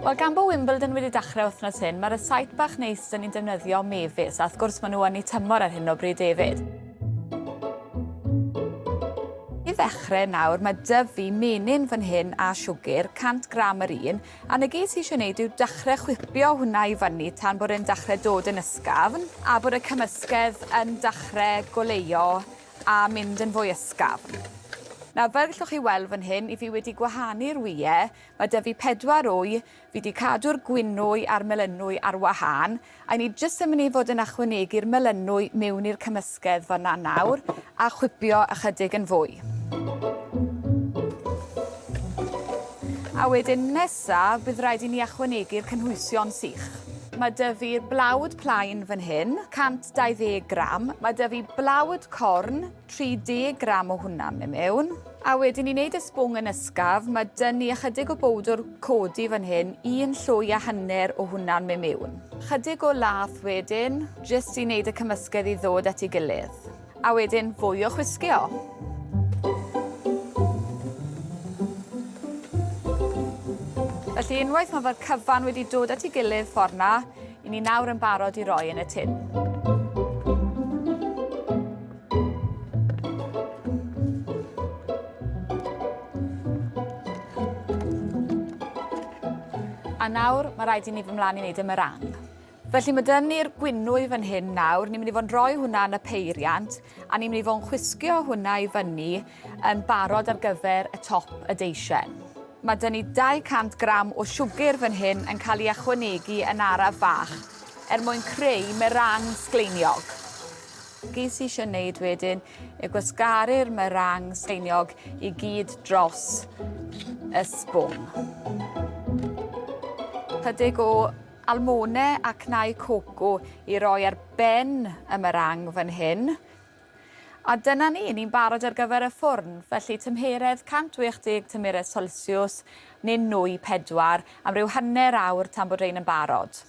Wel, gan bod Wimbledon wedi dechrau wythnos hyn, mae'r site bach neis dyn ni'n defnyddio mefus, a wrth gwrs maen nhw yn ei tymor ar hyn o bryd hefyd. I ddechrau nawr, mae dyf fi menyn fan hyn a siwgr, 100 gram yr un, a na gyd sy'n eisiau gwneud yw dechrau chwipio hwnna i fyny tan bod e'n dechrau dod yn ysgafn, a bod y cymysgedd yn dechrau goleuo a mynd yn fwy ysgafn. Nawr, fel gallwch chi weld fan hyn, i fi wedi gwahanu'r wyau, mae 'da fi pedwar wy, fi 'di cadw'r gwinwy a'r melynwy ar wahân, a 'yn ni jyst yn mynd i fod yn ychwanegu'r melynwy miwn i'r cymysgedd fan 'na nawr, a chwipio ychydig yn fwy. A wedyn nes nesaf, bydd rhaid i ni ychwanegu'r cynhwysion sych. Mae 'da fi blawd plaen fan hyn, 120 gram. Mae 'da fi blawd corn, 30 gram o hwnna mewn mewn. A wedyn i wneud y sbwng yn ysgaf, mae 'da ni ychydig o bowdwr codi fan hyn, un llwy a hanner o hwnna'n mewn mewn. Chydig o lath wedyn, jyst i wneud y cymysgedd i ddod at ei gilydd. A wedyn fwy o chwisgio. Felly unwaith mae fod cyfan wedi dod at ei gilydd ffordd na, i ni nawr yn barod i roi yn y tun. A nawr, mae rhaid i ni fy mlaen i wneud y meringue. Felly mae dyn ni'r gwynwy fan hyn nawr, ni'n mynd i fod yn rhoi hwnna yn y peiriant a ni'n mynd i fod yn chwisgio hwnna i fyny yn barod ar gyfer y top y deisien. Mae dyn ni 200 gram o siwgr fan hyn yn cael ei ychwanegu yn araf fach er mwyn creu merang sgleiniog. Ges i eisiau wneud wedyn yw gwasgaru'r merang sgleiniog i gyd dros y sbwng. Chydig o Almone a cnau coco i roi ar ben y meringue fan hyn. A dyna ni, ni'n barod ar gyfer y ffwrn. Felly tymheredd 180 tymheredd Celsiws neu nwy 4 am ryw hanner awr tan bod rhein yn barod.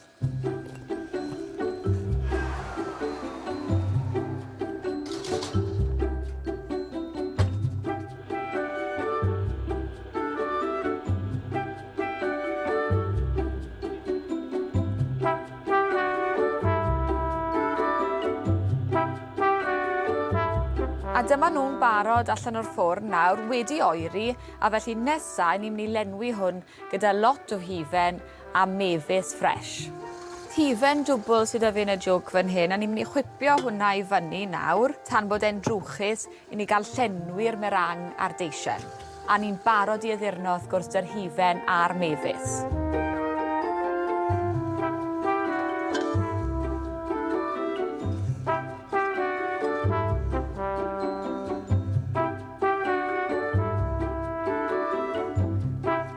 A dyma nhw'n barod allan o'r ffwrn nawr, wedi oeri, a felly nesaf, ni'n mynd i lenwi hwn gyda lot o hufen a mefus ffres. Hufen dwbl sydd â fi yn y jwg fan hyn, a ni'n mynd i chwipio hwnna i fyny nawr, tan bod e'n drwchus, i ni gael llenwi'r meringue a'r deisen, a ni'n barod i addurno wrth gwrs 'da'r hufen a'r mefus.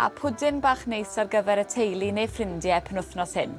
A pwdin bach neis ar gyfer y teulu neu ffrindie penwythnos hyn.